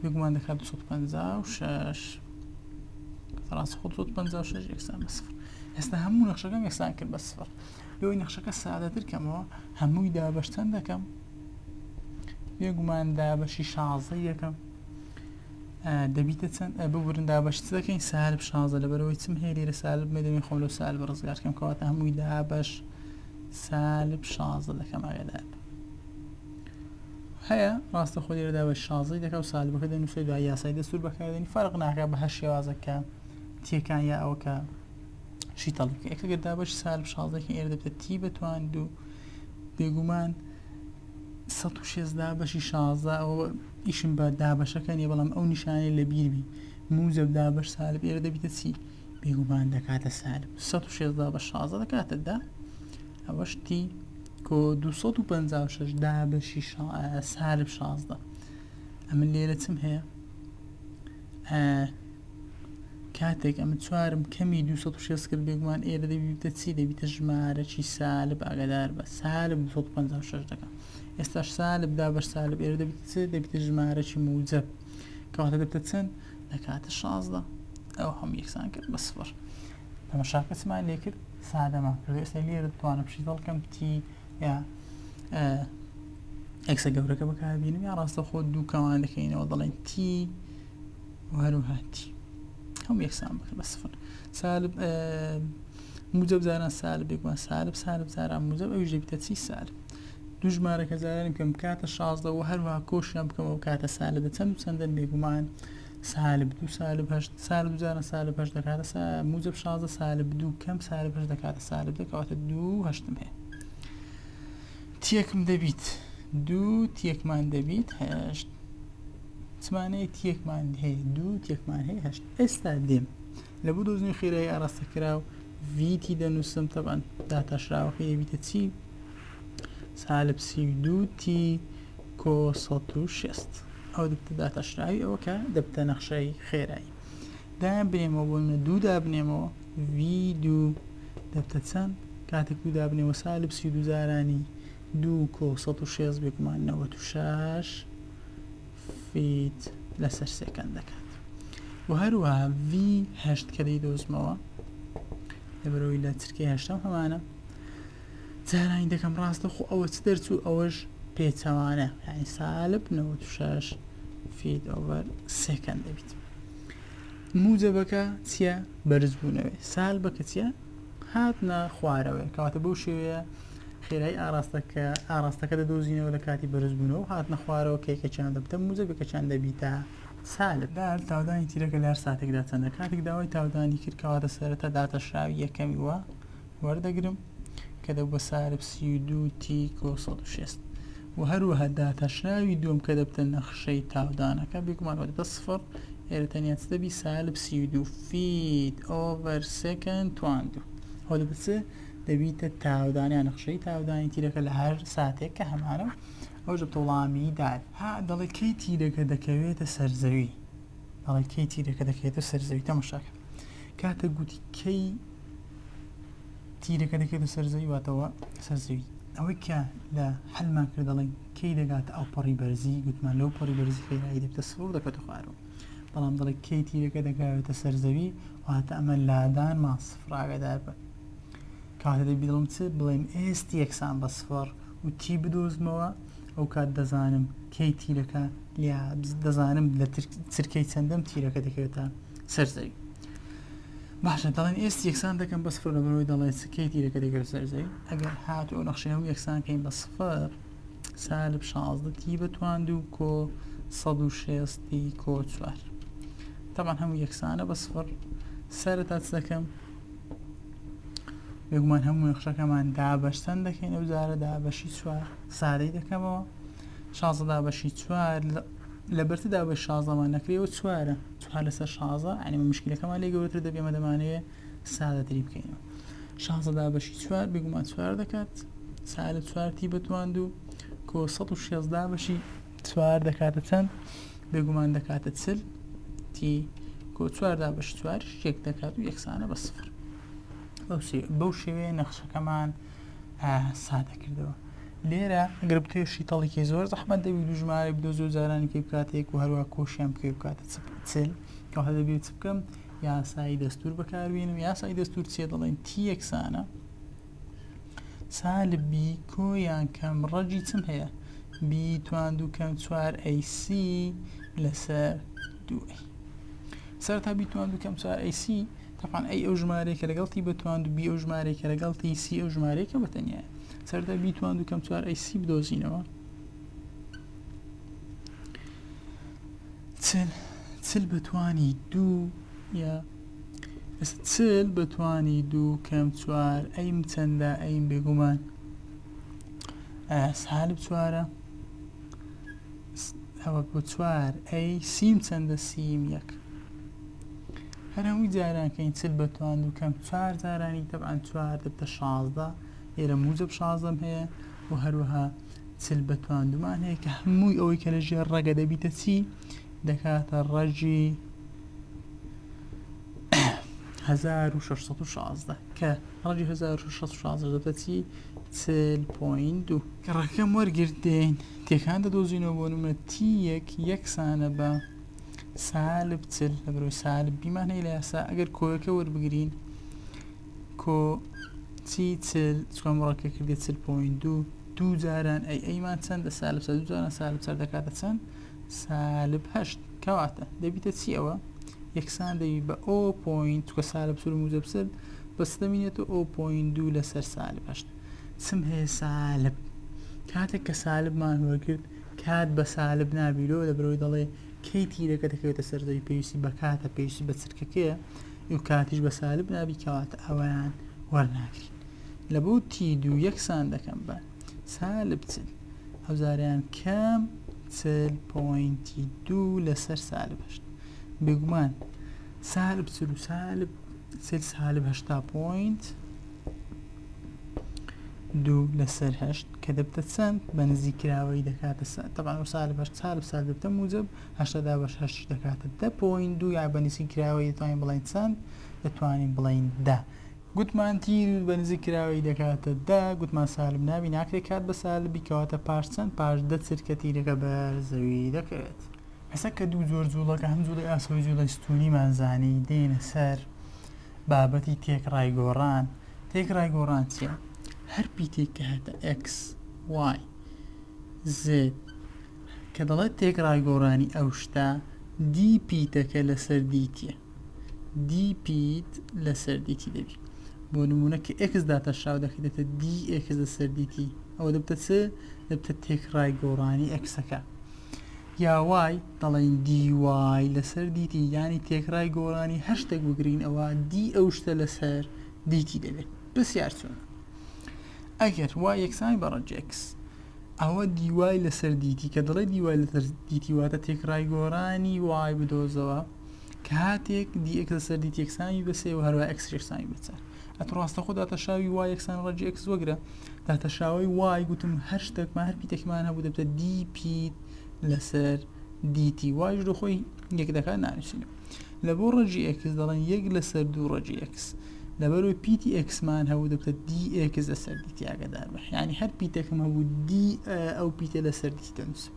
بێگومان دەکات 256 فراس خۆ 256 یەکسان بە سفر ئێستا هەموو نەخشەکەم یەکسان کرد بە سفر لەوەی نەخشەکە سادەتر کەمەوە هەمووی دابەشتەن دەکەم بێگومان دابەشی شازە یەکەم دەبیتە چەند ببورن دابەشت دەکەین سالب شازە لەبەرەوەی چم هەیە لێرە سالب مێ دەبین خۆم لەو سالب ڕزگارکەم کەواتە هەمووی دابەش سالب شازە دەکەم ئاگدار هەیە ڕاستەخۆ لێرەدا بە شازی دەکە و سالبەکە دەنووسێت دوای یاسای دەستور بەکاردێنی فەرق ناکە بە هەر شێوازە کە تیەکان یا ئەوە کە شی تەڵیکە ئەکەگەردا بەش سالب شازێکی ئێر دەبێت تی بەتوان دوو بێگومان 16 بەشی شازە ئەو ئیشم بە دابەشەکە نیە بەڵام ئەو نیشانەی لە بیربی موزب دابش سالب ئێرە دەبیتە چی بێگومان دەکاتە سالب 16 بە شازە دەکاتە دا ئەوە شتی کۆ دوو سەد و پەنجا و شەش دابەشی سالب شازدە ئەمن لێرە چم هەیە کاتێک ئەمە چوارم کەمی 260 کرد بێگومان ئێرە دەبیتە چی دەبیتە ژمارەی سالب ئاگادار بە سالب 256 دەکە ئێستا سالب دا بە سالب ئێرە دەبیت چ دەبیتە ژمارەی موجب کەواتە دەبتە چەند دەکاتە 16 ئەو هەم یەکسان کرد بە سفر تەمەشاکەسمان لێ کرد سادە ما کردو ئێستا لێرە دەتوانم پشی دڵ کەم تی یا ئەکسە گەورەکە بەکاربینم یا ڕاستە خۆ دوو کەمان دەکەینەوە دەڵێن تی وهروها تی هەم یەکسان بکە بە سفر سالب موجب زاران سالب بێگومان سالب سالب زاران موجب ئەویش دەبیتە چی سالب دوو ژمارەکە زارانی بکەم کاتە شازدە و هەروها کۆشیان بکەمەوە کاتە سالە دەچەند چەندن بێگومان سالب دوو سالب هەشت سالب دوو جاران سالب هەشت دەکاتە سا موجب شازدە سالب دوو کەم سالب هەشت دەکاتە سالب دە کەواتە دوو هەشتم هەیە تێکم دەبیت دوو تێکمان دەبیت هەشت چمانەیە تێکمان هەیە دوو تێکمان هەیە هەشت ئێستا دێم لە بۆ دۆزنی خێرایی ئاراستە کرا و ڤیتی دەنووسم تەبان داتاشراوەکە یەبیتە چی سالب سی و دوو تی کۆ سەد و شەست ئەو دەبتە داتاشراوی ئەوە کە دەبتە نەخشای خێرایی دایان بنێمەوە بۆ منە دوو دابنێمەوە وی دوو دەبتە چەند کاتێک دوو دابنێەوە سالب سی دوزارانی دوو کۆ سە و شێز بێگومان نەوە و شش فیت لەسەر سێکەند دەکات و هەروە وی هەشت کە دەی دۆزمەوە لەبەرەوەی لە چرکەی هەشتم هەمانە جارانی دەکەم ڕاستە خۆ ئەوە چ دەرچوو ئەوەش پێچەوانە یعنی سالب نەوە شش فید ئۆڤەر سێکەند دەبیت موجەبەکە چییە بەرزبوونەوەی سال بەکە چیە هاتنە خوارەوەی کاتە بەو شێوەیە خێرای ئاراستەکە ئاراستەکە دەدۆزینەوە لە کاتی بەرزبوونەوە هاتنە خوارەوە کێکەچان دەبتە موزە بەکەچان دەبیتە سالب دار تاودانی تیرەکە لار ساتێکدا چەندە کاتێک داوای تاودانی کرد کەواتە سەرەتا داتەشراوی یەکەمی وە وەردەگرم کە دەبووە سارب سی و دوو تیک و سەد و شێست و هەروەها داتاشراوی دووەم کە دەبتە نەخشەی تاودانەکە بێگومان وەدەتە سفڕ ئێرە تەنیا چ دەبی سالب سی و دوو فیت ئۆڤەر سێکەند تواندو ئەوە دەبێت چ دەبیتە تاودانیان نەخشەی تاودانی تیرەکە لە هەر ساتێک کە هەمانە ئەوش دەبتە وڵامی دار ها دەڵێ کەی تیرەکە دەکەوێتە سەرزەوی دەڵێ کەی تیرەکە دەکەوێتە سەرزەوی تەمەشاکە کاتێک گوتی کەی تیرەکە دەکەێتە سەرزەوی واتەوە سەرزەوی ئەوەی کە لە حلمان کرد دەڵێن کەی دەگات ئەو پەڕی بەرزی گوتمان لەو پەڕی بەرزی خێرایی دەبتە سڕ دەکەت خوارەوە بەڵام دەڵێ کەی تیرەکە دەگاوێتە سەرزەوی واتە ئەمە لادان ما سفراگەدار بن کاتە دەبی دڵم چ بڵێم ئێست یەکسان بە سفر و تی بدۆزمەوە ئەو کات دەزانم کەی تیرەکە لیا دەزانم لە چرکەی چەندەم تیرەکە دەکەوێتە سەر زەوی باشە دەڵێن ئێستی یەکسان دەکەم بە سفر لەبەرەوەی دەڵێن سکەی تیرەکە دەگەر سەر زەوی ئەگەر هات و نەخشەیە و یەکسان کەین بە سفر سالب شازدە تی بەتوان دوو کۆ سەد و شێستی کۆ چوار تەمان هەموو یەکسانە بە سفر سرە تا دەکەم بێگومان هەموو نەخشەکەمان دابەشسەن دەکەین ئەو جارە دابەشی چوار سادەی دەکەمەوە شازە دابەشی چوار لە بەرتدا بە شازەمان نەکرێەوە چوارە هەر لەسەر شازە یعنی مشکلەکەمان لێ گەورەتر دەبێ ئێمە دەمانەوێ سادەتری بکەینەوە شازە دابەشی چوار بێگومان چوار دەکات سالب چوارتی بەتوان دوو کۆ سە و شێز دابەشی چوار دەکاتە چەند بێگومان دەکاتە چل تی کۆ چوار دابەش چوار شتێک دەکات و یەکسانە بە سفر بەو شێوەیە نەخشەکەمان سادە کردەوە لێرە گەر بتوێ شیتەڵێکی زۆر زەحمە دەبی دوژمارە بدۆزی و جارانی پێ بکاتێک و هەروە کۆشیان پێ بکاتە چل کەواتە دەبێت چ بکەم یاسایی دەستور بەکاربیێنم یاسایی دەستور چێ دەڵێن تی یەکسانە سالبی کۆیان کەم ڕەجی چم هەیە بی توان دوو کەم چوار ئەیسی لەسەر دوو سەرتا بیتوان دوو کەم چوار ئەیسی تەبعەن ئەی ئەو ژمارەیە کە لەگەڵ تی بتواند و بی ئەو ژمارەیە کە لەگەڵ تی سی ئەو ژمارەیە کە بەتەنیایە سەردا بیتواند و کەم چوار ئەی سی بدۆزینەوە چل چل بەتوانی دوو یا چل بەتوانی دوو کەم چوار ئەیم چەندە ئەیم بێگومان سالب چوارە س ئەوەک بۆ چوار ئەی سیم چەندە سیم یەک هەر هەمووی جارانکەین چل بە توان و کەم چوار جارانی تەبان چوار دەبتە شازدە ئێرە موجب شازدەم هەیە و هەروەها چل بە توان دومان هەیە کە هەمووی ئەوەی کە لە ژێر ڕەگە دەبیتە چی دەکاتە ڕەجی هەزار و شەش سەد و شازدە کە ڕەجی هەزار و شەش شازدە دەبێت چی چل پۆین دوو کە ڕەکەم وەرگرتێن تێکان دەدۆزینەوە بۆ نمە تی یەک یەکسانە بە سالب چل لە بەرەوەی سالب بیمان هەیە لە یاسا ئەگەر کۆیەکە وەربگرین کۆ چی چل چکۆم ڕەکە کردێت چل پۆین دوو دوو جاران ئەی ئەیمان چەندە سالب سە دوو جاران سالب سەر دەکاتە چەند سالب هەشت کەواتە دەبیتە چی ئەوە؟ یەکسان دەبی بە ئۆ پۆینت چکە سالب سور موجب سر بە چ دەمینێتەوە ئۆ پۆینت دوو لەسەر سالب هەشت چم هەیە سالب کاتێک کە سالبمان وەرگرت کات بە سالب نابیرەوە لە برەوەی دەڵێ کەی تیرەکە دەکەوێتە سەرزەوی پێویستی بە کاتە پێویستی بە چرکەکەیە و کاتیش بە سالب نابی کەواتە ئەویان وەرناگرین لە بۆ تی دوو یەکسان دەکەم بە سالب چل ئەو جاریان کەم چل پۆینتی دوو لەسەر سالب هەشت بێگومان سالب چل و سالب چل سالب هەشتا پۆینت دوو لەسەر هەشت کە دەبتە چەند بە نزی کراوەی دەکاتە سا تەبان و سالب هەشت سالب سال دەبتە موجب هەشتادا بەش هەشتی دەکاتە دە پۆین دوو یا بە نزی کراوەی دەتوانین بڵین چەند دەتوانین بڵین دە گوتمان تیر بە نزیک کراوەی دەکاتە دە، گوتمان سالب نابی ناکرێ کات بە سالبی کەواتە پاش چەند پاش دە چرکە تیرەکە بەر زەوی دەکەوێت. ئێستا کە دوو جۆر جووڵەکە هەم جووڵەی ئاسەوەی جووڵەی ستوونیمان زانی دێینە سەر بابەتی تێکڕای گۆڕان تێکڕای گۆڕان چیە هەر پیتێک کە هەتە ئێکس وای زێد کە دەڵێت تێکڕای گۆڕانی ئەو شتە دی پیتەکە لەسەر دیتیە دی پیت لەسەر دی تی دەبی بۆ نمونە کە ئێکس داتەشاو دەکەێتە دی ئێکس لەسەر دی تی ئەوە دەبتە چ دەبتە تێکڕای گۆڕانی ئەکسەکە یا وای دەڵێن دی وای لەسەر دی تی یانی تێکڕای گۆڕانی هەشتێک بگرین ئەوە دی ئەو شتە لەسەر دی تی دەبێت پرسیار چۆن ئەگەر وا یەکسانی بەڕەج ئێکس ئەوە دیوای لەسەر دیتی کە دەڵێ دیوای لەسەر دیتی واتە تێکڕای گۆرانی وای بدۆزەوە کاتێک دی ئێکس لەسەر دیت یەکسانی بەسێ و هەروە ئەکس یەکسانی بچە ئەت ڕاستە خۆ داتەشاوی وای یەکسان ڕەجی ئەکس وەگرە داتەشاوی وای گوتم هەر شتێکمان هەر پیتێکمان هەبوو دەبتە دی پیت لەسەر دیتی وایش لە خۆی یەک دەکات نانووسین لە بۆ ڕەجی ئەکس دەڵێن یەک لەسەر دوو ڕەجی ئەکس لەبەرو پیتی ئەکسمان هەبوو دەبتە دی ئێکس لەسەر دیتیاگەدار بە ینی هەر پیتەکەم هەبوو دی ئەو پیتە لەسەر دیتی دەنووسم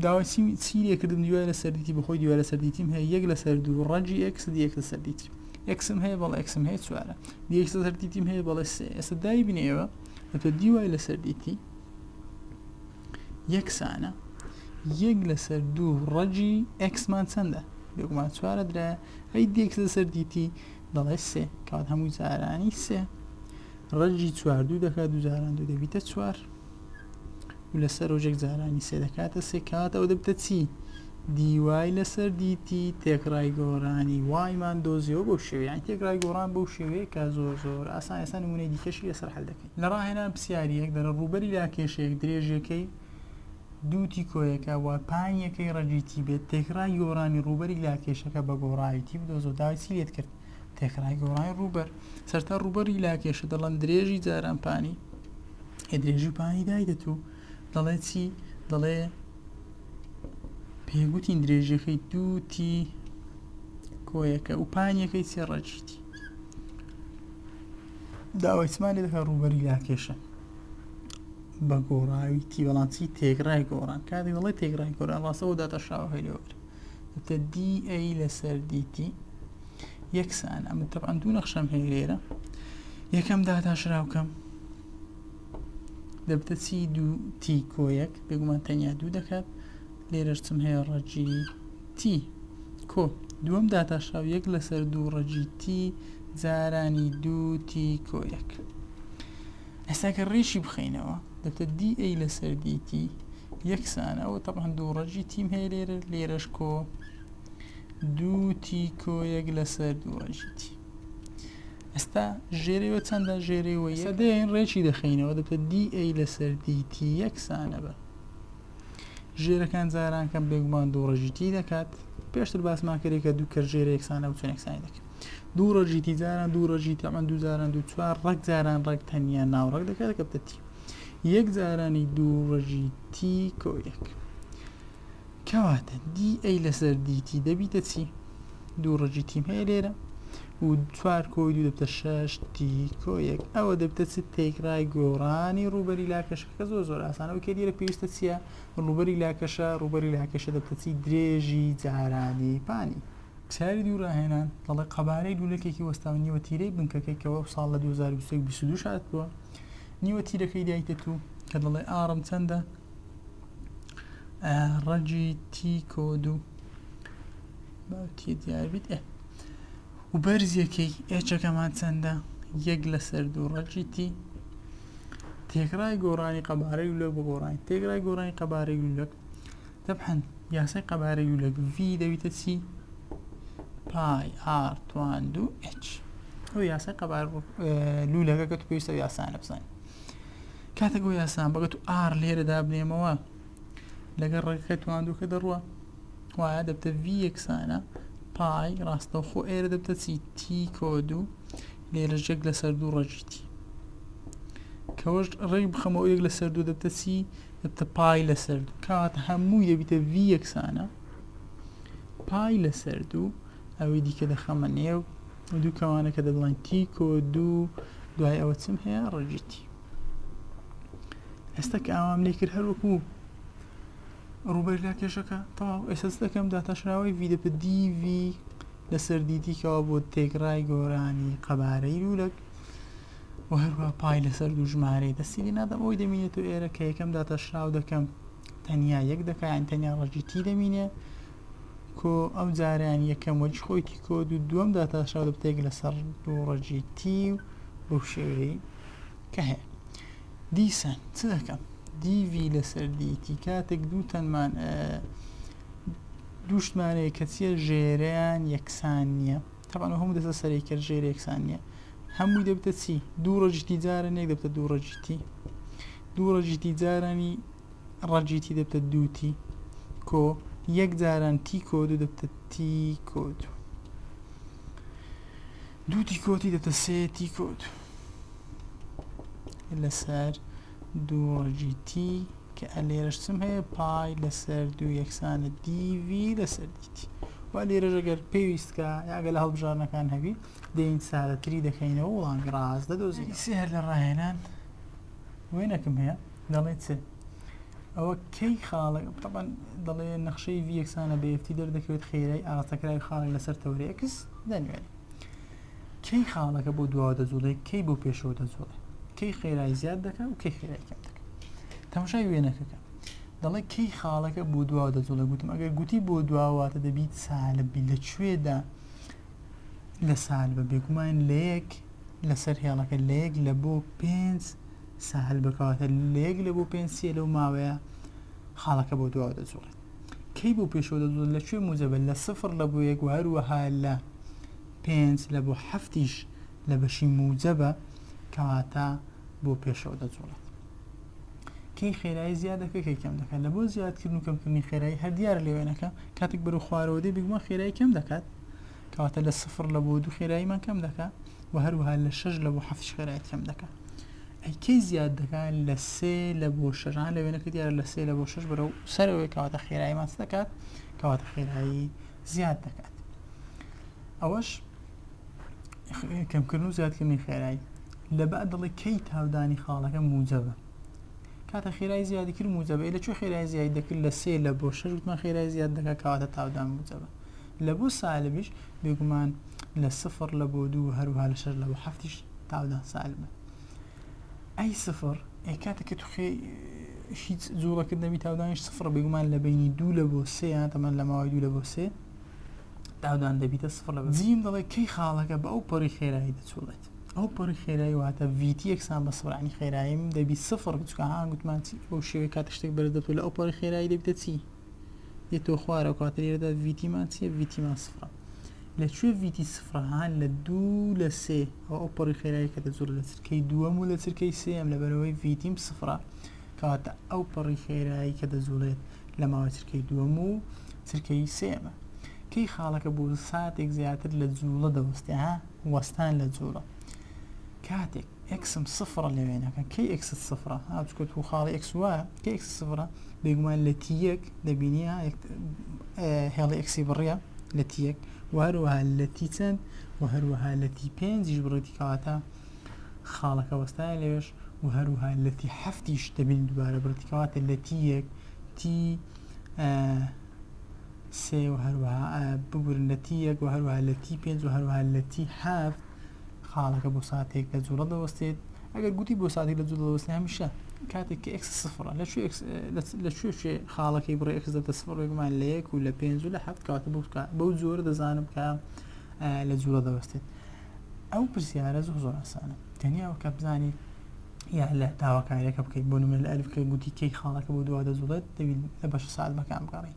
داوای چی چی لێکردم دیوای لەسەر دیتی بەخۆی دیوای لەسەر دیتیم هەیە یەک لەسەر دوو ڕەجی ئێکس دی یەک لەسەر دیتی ئێکسم هەیە بەڵ ئێکسم هەیە چوارە دی ئێکس لەسەر دیتیم هەیە بەڵێ سێ ئێستا دای بنێوە ئەتۆ دیوای لەسەر دیتی یەکسانە یەک لەسەر دوو ڕەجی ئەکسمان چەندە بێگومان چوارە درایە ئەی دێکس لەسەر دیتی دەڵێ سێ کات هەموو جارانی سێ ڕەجی چواردوو دەکات دوجاران دوو دەبیتە چوار و لە سەرۆجێک جارانی سێ دەکاتە سێ کات ئەو دەبتە چی دیوای لەسەر دیتی تێکڕای گۆرانی وایمان دۆزیەوە بەو شێوەیان یعنی تێکڕای گۆڕان بەو شێوەیە کە زۆر زۆر ئاسان ئێستا نمونەی دیکەشی لەسەر حل دەکەین لە ڕاهێنان پرسیاریەک دەرە ڕوبەری لا کێشەیەک درێژەکەی دووتی کۆیەکە و پانیەکەی ڕەگیتی بێت تێکڕای گۆرانی ڕوبەری لا کێشەکە بە گۆڕاویتی بدۆزۆ داوای چی لێت کرد تێکڕای گۆڕانی ڕووبەر سەرتا ڕووبەری لاکێشە دەڵەن درێژی جاران پانی ئێ درێژی پانی دایدەت و دەڵێ چی دەڵێ پێگوتین درێژیەکەی دووتی کۆیەکە و پانیەکەی سێ ڕەجیتی داوایسمانی دەکە ڕووبەری لاکێشە بە گۆڕاوی تیوەڵانسی تێگرای گۆڕان کاتی دەڵێ تێگرای گۆران ڕاستەوە داتە شاوهێلەوەگر ئەتە دی ئەی لەسەر دیتی یەکسان ئەمە تەبان دوو نەخشەم هەیە لێرە یەکەم داتاشراوکەم دەبتە چی دوو تی کۆیەک بێگومان تەنیا دوو دەکات لێرەشتم هەیە ڕەجی تی کۆ دووەم داتاشراو یەک لەسەر دوو ڕەجی تی زارانی دوو تی کۆیەک ئێستا گەر ڕیشی بخەینەوە دەتە دی ئەی لەسەر دیتی یەکسانە ئەوە تەبان دوو ڕەجی تیم هەیە لێرە لێرەش کۆ دوو تی کۆ یەک لەسەر دوو ڕەجیتی ئێستا ژێرەوە چەندە ژێرەوە سەدەین ڕێکی دەخینەوە دەتە دی ئەی لەسەر دیتی یەکسانە بە ژێرەکان جارانکەم بێگومان دوو ڕژیتی دەکات پێشتر باسمان کرێکە دوو کە ژێرە یەکسانە و چۆنێکسانی دەکەن دوو ڕەجی تی جاران دوو ڕەجی تەمان دوو جاران دوو چوار ڕەگ جاران ڕەگ تەنیا ناوڕەگ دەکات دەکەبتە تی یەک جارانی دوو ڕەژی تی کۆ یەک کەواتە دی ئەی لەسەر دیتی دەبیتە چی دوو ڕەجی تیم هەیە لێرە و چوار کۆی دوو دەبتە شش تی کۆ یەک ئەوە دەبتە چ تێکڕای گۆڕانی ڕوبەری لاکەشەکە زۆر زۆر ئاسانەوە کە دیێرە پێویستە چییە ڕوبەری لاکەشە ڕوبەری لاکەشە دەبتە چی درێژی جارانی پانی پرسیاری دوو راهێنان، دەڵێت قەبارەی لوولەکێکی وەستاوە نیوە تیرەی بنکەکەی کە وەو ساڵ لە دوو هەزار و بیست و یەک بیست و دوو شاد بووە نیوە تیرەکەی دایتەتو کە دەڵێ ئاڕم چەندە ڕەجی تی کۆدو باوتی دیاربیت ئێ و بەرزیەکەی ئێچەکەمان چەندە یەک لەسەر دوو ڕەجی تی تێکڕای گۆڕانی قەبارەی لۆک بە گۆڕانی تێکرای گۆڕانی قەبارەی لولەک تەبعەن یاسای قەبارەی و لەک V دەبیتە چی؟ پای R تواندو H ئەو یاسای قەبار لولەکە کە تو پێویستە یاسانە بزانین کاتێک ئەو یاسان بەگەت و R لێرە دابنێمەوە لەگەر ڕێگەکە تواندوکە دەڕوە وایە دەبتە V یەکسانە پای ڕاستەوخۆ ئێرە دەبتە چی T کۆد و لێرە ژێک لەسەر دوو ڕەجیتی کەوەش ڕێک بخەمەوە یەک لەسەر دوو دەبتە چی دەبتە پای لەسەر دوو کەواتە هەمووی دەبیتە ڤی یەکسانە پای لەسەر دوو ئەوەی دیکە دەخەمە نێو دوو کەوانەکە دەبڵێن تیکۆ دوو دوای ئەوە چم هەیە ڕژیتی ئێستا کە ئاوام لێ کرد هەروەکو ڕوبەر لە کێشەکە تەواو ئێسس دەکەم داتاشراوی ڤیدەپە دیڤی لەسەر دیدیکەوە بۆ تێگڕای گۆرانی قەبارەی لولەک و هەروەها پای لەسەر دوو ژمارەی دەستی لێ نادەم ئەوەی دەمینێتەوە ئێرە کە یەکەم داتاشراو دەکەم تەنیا یەک دەکەیان تەنیا ڕەجی تی دەمینێ کۆ ئەم جاریان یەکەم وەریش خۆی تی کۆ دوو دووەم داتاشراو دەبتێک لەسەر دوو ڕەجی تی و بەو شێوەی کە هەیە دیسان چ دەکەم دیوی لەسەر دیتی کاتێک دوو تەنمان دووشمانەیە کەچیە ژێریان یەکسان نییە تەبعەن ئەو هەموو دەستە سەرەی کەر ژێر یەکسان نییە هەمووی دەبتە چی دوو ڕەجیتی جارە نێک دەبتە دوو ڕەجیتی دوو ڕەجیتی جارانی ڕەجیتی دەبتە دووتی کۆ یەک جاران تی کۆ دوو دەبتە تی کۆ دوو دوو تی کۆتی دەبتە سێ تی کۆ دوو لەسەر دوو ڕەگی تی کە ئە لێرەشتم هەیە پای لەسەر دوو یەکسانە دیوی لەسەر دیتی و لێرەش ئەگەر پێویستکە یاگە لە هەڵبژارنەکان هەبی دەین سادەتری دەکەینەوە وڵامی ڕاست دەدۆزین سێ هەر لە ڕاهێنان وێنەکم هەیە دەڵێت چ ئەوە کەی خاڵک طبعا دەڵێ نەخشەی ویەکسانە بەفتی دەردەکەوێت خێرای ئاڕاستەکراوی خاڵی لەسەر تەورێکس دەنوێنێت کەی خاڵەکە بۆ دواوە دەجوڵێ کەی بۆ پێشەوە دەجوڵێ کەی خێرای زیاد دەکە و کەی خێرای کەم دەکە تەمشای وێنەکەکە دەڵێ کەی خاڵەکە بۆ دواوە دەجوڵێ گوتم ئەگەر گوتی بۆ دواواتە دەبیت سالبی لە کوێدا لە سال بە بێگومان لە یەک لەسەر هێڵەکە لە یەک لە بۆ پێنج ساحل بکاتە لە یەک لە بۆ پێنج سێ لەو ماوەیە خاڵەکە بۆ دواوە دەجوڵێت کەی بۆ پێشەوە دەدۆزن لە کوێ موجەبە لە سفر لە بۆ یەک و هەروەها لە پێنج لە بۆ هەفتیش لە بەشی موجەبە کەواتە بۆ پێشەوە دەجوڵێت کەی خێرایی زیاد دەکە کەی کەم دەکات لە بۆ زیادکردن و کەمکردنی خێرایی هەر دیارە لێوێنەکە کاتێک بەرو خوارەوە دێ بگومان خێرایی کەم دەکات کەواتە لە سفر لە بۆ دوو خێراییمان کەم دەکا و هەروەها لە شەش لە بۆ حەفتش خێرایت کەم دەکا ئەیکەی زیاد دەکات لە سێ لە بۆ شەژان لە وێنەکە دیارە لە سێ لە بۆ شەش بەرەو سەرەوەی کەواتە خێرایی ماس دەکات کەواتە خێرایی زیاد دەکات ئەوەش کەمکردن و زیادکردنی خێرایی لە بە دڵی کەی تاودانی خاڵەکە موجەبە کاتە خێرای زیادی کرد موجەبە لە چۆ خێرای زیاد دەکرد لە سێ لە بۆ شەش وتمان خێرای زیاد دەکات کەواتە تاودان موجەبە لە بۆ سالبیش بێگومان لە سفر لە بۆ دوو هەروها لە شەر لە بۆ حفتیش تاودان سالبە ئەی سفر ئەی کاتە کە توخێ هیچ جوڵەکرد نەبی تاودانیش سفر بێگومان لە بینی دوو لە بۆ سێیان تەمان لە ماوەی دوو لە بۆ سێ داودان دەبیتە سفر لە جیم دەڵێ کەی خاڵەکە بە ئەو پەڕی خێرایی دەچوڵێت ئەو پەڕی خێرایی واتە ویتی یەکسان بە سڕانی خێراییم دەبی سفر بچکە هاگوتمان چی بۆ شێوەی کاتە شتێک بەرز دەبێت لە ئەو پەڕی خێرایی دەبیتە چی یە تۆ خوارە و کاتە لێرەدا ڤیتیمان چیە ڤیتیمان سفرە لە کوێ ڤیتی سفرەهان لە دوو لە سێ ئەو ئەو پەڕی خێرایی کە دەزۆر لە چرکەی دووەم و لە چرکەی سێم لە بەرەوەی ڤیتیم سفرە کاتە ئەو پەڕی خێرایی کە دەزوڵێت لە ماوە چرکەی دووەم و چرکەی سێمە کەی خاڵەکە بۆ ساتێک زیاتر لە جوڵە دەوەستێ ها وەستان لە جوڵە کاتێک ئێکسم سفرە لە وێنەکە کەی ئێکست سفرە ها چکە تو خاڵی ئێکس وایە کە ئێکس سفرە بێگومان لە تی یەک دەبینی هێڵی ئێکسی بڕە لە تی یەک و هەروەها لە تی چەند و هەروەها لە تی پێنجیش بڕێتی کەواتە خاڵەکە وەستایە لەوێش و هەروها لە تی هەفتیش دەبین دوبارە بڕێتی کەواتە لە تی یەک تی سێ و هەروها بگورن لە تی یەک و هەروها لە تی پێنج و هەروها لە تی هەفت خاڵەکە بۆ ساتێک لە جوڵە دەوەستێت ئەگەر گوتی بۆ ساتێک لە جوڵەوەست هەمیشە کاتێک کە ئکس سفرە لە لە شوێ شوێ خاڵەکەی بڕێ ئەکس دەتە سفرێکمان لە یەک و لە پێنج و لە حەفت کاتە بکە بەو جۆرە دەزانم کە لە جوڵە دەوەستێت ئەو پرسیارە زۆ زۆر ئاسانە تەنیاوە کە بزانانی یا لە داواکاریەکە بکەیت بۆ نمە لە ئەلفکە گوتی کەی خاڵەکە بۆ دووا دەزوڵێت دەبین لە بەش ساعت بەکان بگەڕی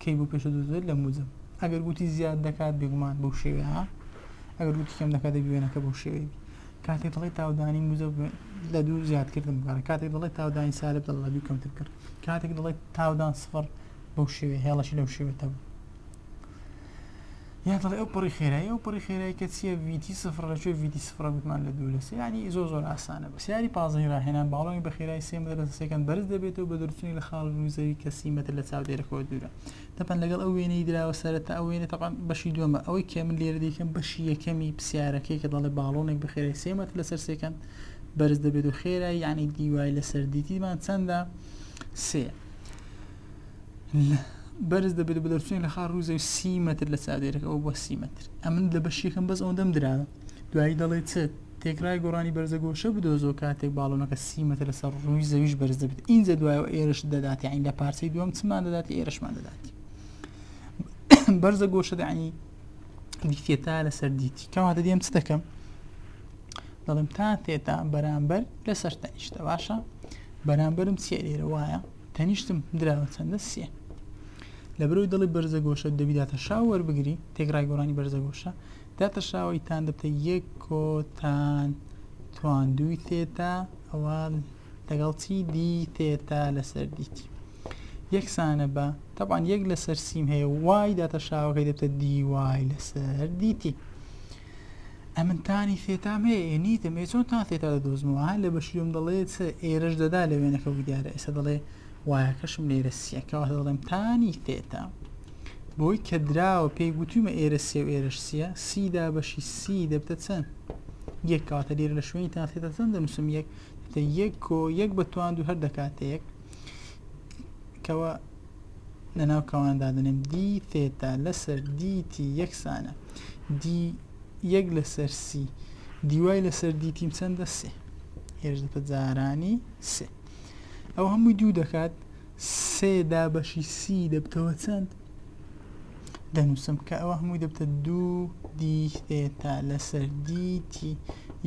کەی بۆ پێشە دەدوێت لە موجب ئەگەر گوتی زیاد دەکات بێگومان بەو شێوێ ها ئەگەر گوتی کەم دەکات دەبی وێنەکە بەو شێوێ بی کاتێک دڵی تاودانی موجب لە دوو زیادکردن بکارە کاتێک دڵی تاودانی سالب دڵ لە دوو کەمتر کرد کاتێک دڵی تاودان سفر بەو شێوێ هێڵەشی لەو شێوێتەوە یان دەڵێ ئەو پڕی خێرایی ئەو پڕی خێرایی کە چییە ویتی سفر لە کوێ ویتی سفرە گوتمان لە دوو لە سێ ینی زۆر زۆر ئاسانە بە سیاری پازدەی راهێنان باڵۆنی بە خێرایی سێ مەتر لە سێکەند بەرز دەبێتەوە بە دەرچوونی لە خاڵ رووی زەوی کە سی مەتر لە چاودێرەکەوە دوورە تەپەن لەگەڵ ئەو وێنەی دراوە سەرەتا ئەو وێنە تەپەن بەشی دووەمە ئەوەی کە من لێرە دیکەم بەشی یەکەمی پسیارەکەی کە دەڵێ باڵۆنێک بە خێرای سێ مەتر لەسەر سێکەند بەرز دەبێت و خێرای یعنی دیوای لەسەر دیتیمان چەندە سێ بەرز دەبێت بە دەرچوین لە خار ڕووزە و سی متر لە چادێرەکە ئەو بۆ سی متر ئەمن لە بەشیەکەم بەس ئەوەندەم درراوە دوایی دەڵێت چ تێکرای گۆڕانی بەرزە گۆشە بدۆزۆ کاتێک باڵۆنەکە سی متر لەسەر ڕووی زەویش بەرز دەبێت ئینجا دوایەوە ئێرش دەداتی عین لە پارچەی دووەم چمان دەداتی ئێرشمان دەداتی بەرزە گۆشە دەعنی دیتە تا لەسەر دیتی کەواتە دێم چ دەکەم دەڵێم تا تێتا بەرامبەر لەسەر تەنیشتە باشە بەرامبەرم چیە لێرە وایە تەنیشتم دراوە چەندە سێ لەبروی دڵی بەرزە گۆشە دەبی داتە شاو وەربگری تێکڕای گۆرانی بەرزە گۆشە داتە شاوەی تان دەبتە یەک کۆتان تواندوی تێتا ئەوە لەگەڵ چی دی تێتا لەسەر دیتی یەکسانە بە تەبان یەک لەسەر سیم هەیە وای داتە شاوەکەی دەبتە دی وای لەسەر دیتی ئەمن تانی ثێتام هەیە ئێ نیتم ئێ چۆن تان ثێتا دەدۆزمەوە ها لە بەشیوم دەڵێ چ ئێرەش دەدا لە وێنەکە و دیارە ئێستا دەڵێ وایەکەشم لێرە سیە کەواتە دەڵێم تانی ثێتا بۆی کە دراوە پێی گوتومە ئێرە سێ و ئێرەش سیە سیدا بەشی سی دەبتە چەند یەک کەواتە لێرە لە شوێنی تان ثێتا چەند دەنووسم یەک دەبتە یەک کۆ یەک بە توان دوو هەر دەکاتە یەک کەوە لەناو کەوان دادەنێم دی تێتا لەسەر دیتی یەکسانە دی یەک لەسەر سی دیوای لەسەر دیتیم چەندە سێ هێش دەتە جارانی سێ ئەو هەمووی دوو دەکات سێ دابەشی سی دەبتەوە چەند دەنووسم کە ئەوە هەمووی دەبتە دوو دی تێتا لەسەر دیتی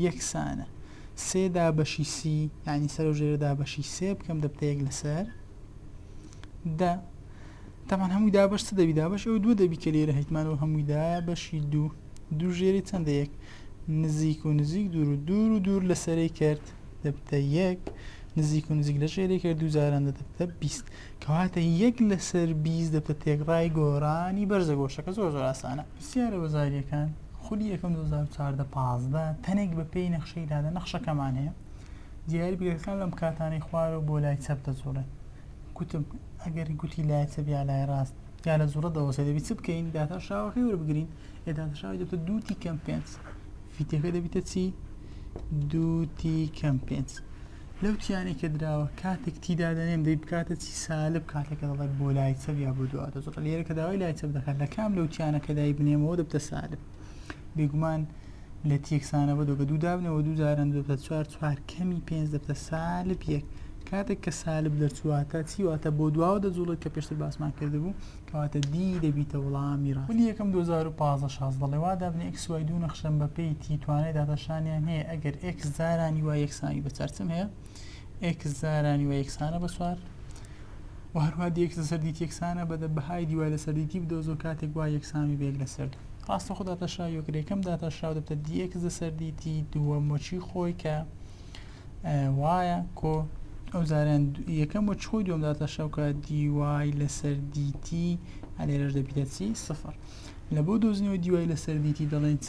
یەکسانە سێ دابەشی سی ینی سەر و ژێرە دابەشی سێ بکەم دەبتە یەک لەسەر دا تامان هەمووی دا بەش چ دەبی دا بەش ئەو دوو دەبی کە لێرە هیتمان و هەمووی دا بەشی دوو دوو ژێری چەندە یەک نزیک و نزیک دوور و دوور و دوور لە سەری کرد دەبتە یەک نزیک و نزیک لە ژێری کرد دوو جاران دەبتە بیست کەواتە یەک لەسەر بیست دەبتە تێکڕای گۆرانی بەرزە گۆشەکە زۆر زۆر ئاسانە پرسیارە وەزاریەکان خولی یەکەم 2014 پازدە تەنێک بە پێی نەخشەی دادە نەخشەکەمان هەیە دیاری بگەکان لەم کاتانەی خوارەوە بۆ لای چەپ دەجوڵێن گوتم ئەگەر گوتی لای چەپ یا لای ڕاست یا لە زوڕە دەوەسێ دەبی چ بکەین داتا شاوەکەی وەربگرین ئێداتا شاوی دەبتە دووتی کەم پێنج فیتەکە دەبیتە چی دووتی کەم پێنج لەو تیانەی کە دراوە کاتێک تیدا دەنێم دەی بکاتە چی سالب کاتێکە دەڵێت بۆ لای چەپ یا بۆ دواتە زۆر لێرە کە داوای لای چەپ دەکات لە کام لەو تیانەکەدای بنێمەوە دەبتە سالب بێگومان لە تیەک سانە بە دۆ بە دوو دابنەوە دوو جاران دۆ بە چوار چوار کەمی پێنج دەبتە سالب یەک کاتێک کە سالب دەرچواتە چیواتە بۆ دواوە دەجوڵێت کە پێشتر باسمان کردبوو کەواتە دی دەبیتە وڵامی ڕاست ولی یەکەم 2015 شاز دەڵێ وا دابنە ئێکس وای دوو نەخشەم بە پێی تی توانای داتاشانیان هەیە ئەگەر ئێکس جارانی وا یەکسانی بە چارچم هەیە ئێکس زارا نیوە یەکسانە بە چوار و هەروە دیەکس لەسەر دیت یەکسانە بەدە بەهای دیوای لەسەر دیتی بدۆزۆ کاتێک وا یەکسانی بێک لەسەر دوو ڕاستە خۆ داتاشرا یۆکرێکم داتاشرا دەبتە دیەکس لەسەر دیتی دووە مۆچی خۆی کە وایە کۆ ئەو زاران یەکەم و چۆی دوم داتاشەکە دیوای لەسەر دیتی هەلێرەش دەبیتە چی سفر لە بۆ دۆزنەوە دیوای لەسەر دیتی دەڵێن چ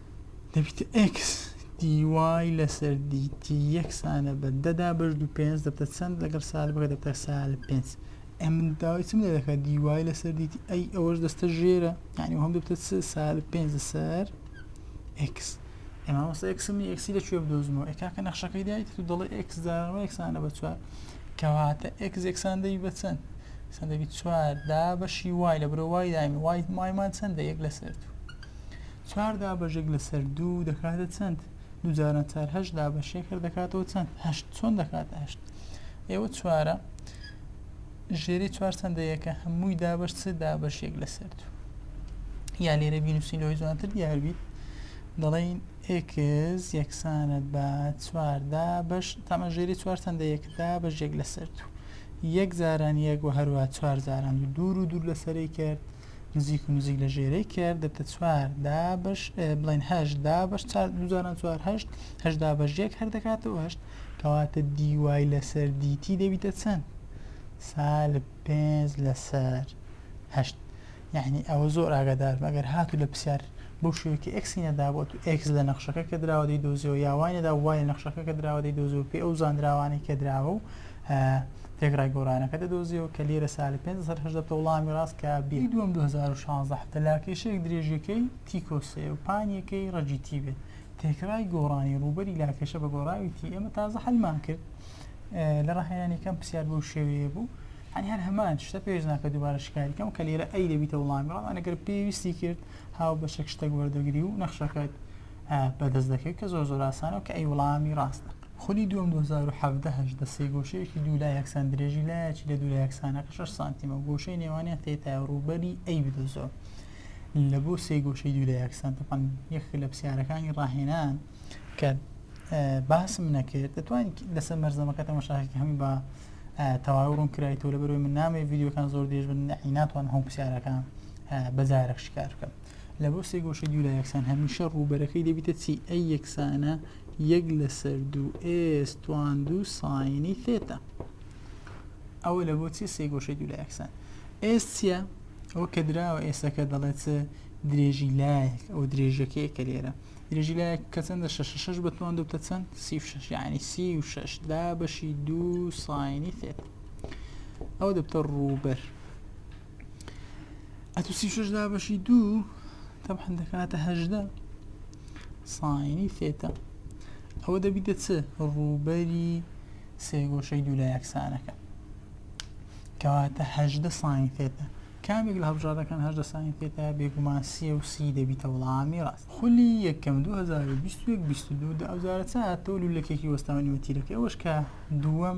دەبیتە ئێکس دی وای لەسەر دیتی یەکسانە بە دەدا بەش دو پێنج دەبتە چەند لەگەڵ سال بکە دەبتە سال پێنج ئە من داوای چم لێ دەکات دی وای لەسەر دیتی ئەی ئەوەش دەستە ژێرە یعنی هەم دەبتە سال پێنج لەسەر ئێکس ئێمە وەسە ئێکسم نی ئێکسی لە کوێ بدۆزمەوە ئێکاکە نەخشەکەی دایت تو دەڵێ ئێکس داوە یەکسانە بە چوار کەواتە ئێکس یەکسان دەی بە چەند سان دەبی چوار دا بەشی وای لە برۆ وای دایم وای مایمان چەندە یەک لەسەر تو چار دابەشێک لەسەر دوو دەکاتە چەند دوو جاران چار هەشت دابەشێک هەر دەکاتەوە چەند هەشت چۆن دەکاتە هەشت ئێوە چوارە ژێری چوار چەندە یەکە هەمووی دابەش چ دابەشێک لەسەر دوو یا لێرە بینوسین لەوەی جوانتر دیاربیت دەڵین ئکس یەکسانە بە چواردا بەش تەمە ژێری چوار چەندە یەکدا بەژێک لەسەر دوو یەک جاران یەک و هەروە چوار جاران دوور و دوور لەسەری کرد نزیک و نزیک لە ژێرەی کێر دەبتە چوار دا بەش بڵێن هەشت دا بەش دوجاران چوار هەشت هەشدا بەش یەک هەر دەکاتەوە هەشت کەواتە دیوای لەسەر دیتی دەبیتە چەند سال پێنج لەسەر هەشت یعنی ئەوە زۆر ئاگادار مەگەر هاتو لە پرسیار بۆ شوێکی ئەکسی نەدابوو تو ئەکس لە نەخشەکە کە دراوە دەی دۆزیەوە یاوانەدا وای لە نەخشەکە کە دراوە دەی دۆزیەوە پێ ئەو زانراوانەی کە دراوە و تێکڕای گۆرانەکە دەدۆزیەوە کە لیرە سالی پێنج سەد هەژدە بتە وڵامی ڕاست کە بی دووەم دوو هەزار و شازدە حەفتە لاکێشەیەک درێژیەکەی تی کۆ سێ و پانیەکەی ڕەجی تی بێت تێکڕای گۆڕانی ڕووبەری لاکێشە بە گۆڕاوی تی ئێمە تازە حەلمان کرد لە ڕاهێنانی کەم پرسیار بەو شێوەیە بوو هەنی هەر هەمان شتە پێش ناکە دووبارە شکاری کەم کە لێرە ئەی دەبیتە وڵامی ڕامان ئەگەر پێویستی کرد هاو بەشەک شتەک وەردەگری و نەخشەکەت بەدەست دەکەوێت کە زۆر زۆر ئاسانە و کە ئەی وڵامی ڕاستە. خولی دووەم دوو هەزار و حەڤدە هەژدە سێگۆشەیەکی دوو لا یەکسان درێژی لایەکی لە دوو لا یەکسانەکە شەش سانتیمە و گۆشەی نێوانیان تێتایە و ڕووبەری ئەی بدۆزەوە لە بۆ سێگۆشەی دوو لا یەکسان تەبعەن یەکێک لە پرسیارەکانی ڕاهێنان کە باسم نەکرد دەتوانیت لەسەر مەرزەمەکە تەمەشاکەکە هەمی بە تەواوی ڕوون کرایتەوە لەبەرەوەی من نامەوێت ڤیدیۆکان زۆر درێژ بن نەعی ناتوانم هەموو پرسیارەکان بەجارەک شکار بکەم لە بۆ سێ گۆشەی دوولا یەکسان هەمیشە ڕووبەرەکەی دەبیتە چی ئەی یەکسانە یەک لەسەر دوو ئێس توان دوو ساینی ثێتا ئەوە لە بۆ چی سێ گۆشەی دوولا یەکسان ئێس چییە ئەو کە دراوە ئێسەکە دەڵێت درێژی لایەک ئەو درێژەکەی کە لێرە درێژی لایەک کە چەندە شش شش بەتوان دوو بتە چەند سی و شش یعنی سی و شش دا بەشی دوو ساینی ثێتا ئەو دەبتە ڕووبەر ئەتو سی شش دا بەشی دوو تەبحن دەکاتە هەژدە ساینی فێتە ئەوە دەبیتە چ ڕووبەری سێگۆشەی دوو لە یەکسانەکە کەواتە هەژدە ساین فێتە کامێک لە هەڵبژاردەکان هەژدە ساین فێتە بێگومان سی و سی دەبیتە وڵامی ڕاست خولی یەکەم 2022 دا ئەوزارە چاتۆ لولەکێکی وەستاونی وەتیرەکە ئەوەش کە دووەم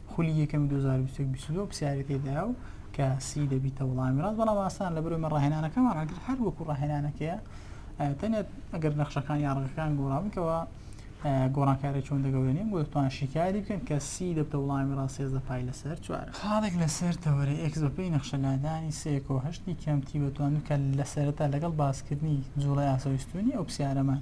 خولی یەکەمی 2021 بیست و دوو پرسیاری تێدایە و کە سی دەبیتە وڵامی ڕاست بەڵام ئاسان لە بەرەوەی ڕاهێنانەکەمان ئەگر هەر وەکو ڕاهێنانەکەیە ئە، تەنێت ئەگەر نەخشەکان یا ڕەگەکان گۆڕاونکەوە گۆڕانکاری چۆن دەگەورێنین بۆ دەتوان شیکاری بکەن کە سی دەبتە وڵامی ڕاست سێزدە پای لەسەر چوار خاڵێک لەسەر تەوەرە ئێکس بەپێی نەخشە لادانی سێ کۆ هەشتی کەمتی بەتوان کە لە سەرەتا لەگەڵ باسکردنی جوڵەی ئاسەوەی ستوونی ئەو پرسیارەمان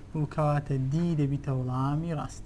و کەواتە دی دەبیتە وڵامی ڕاست.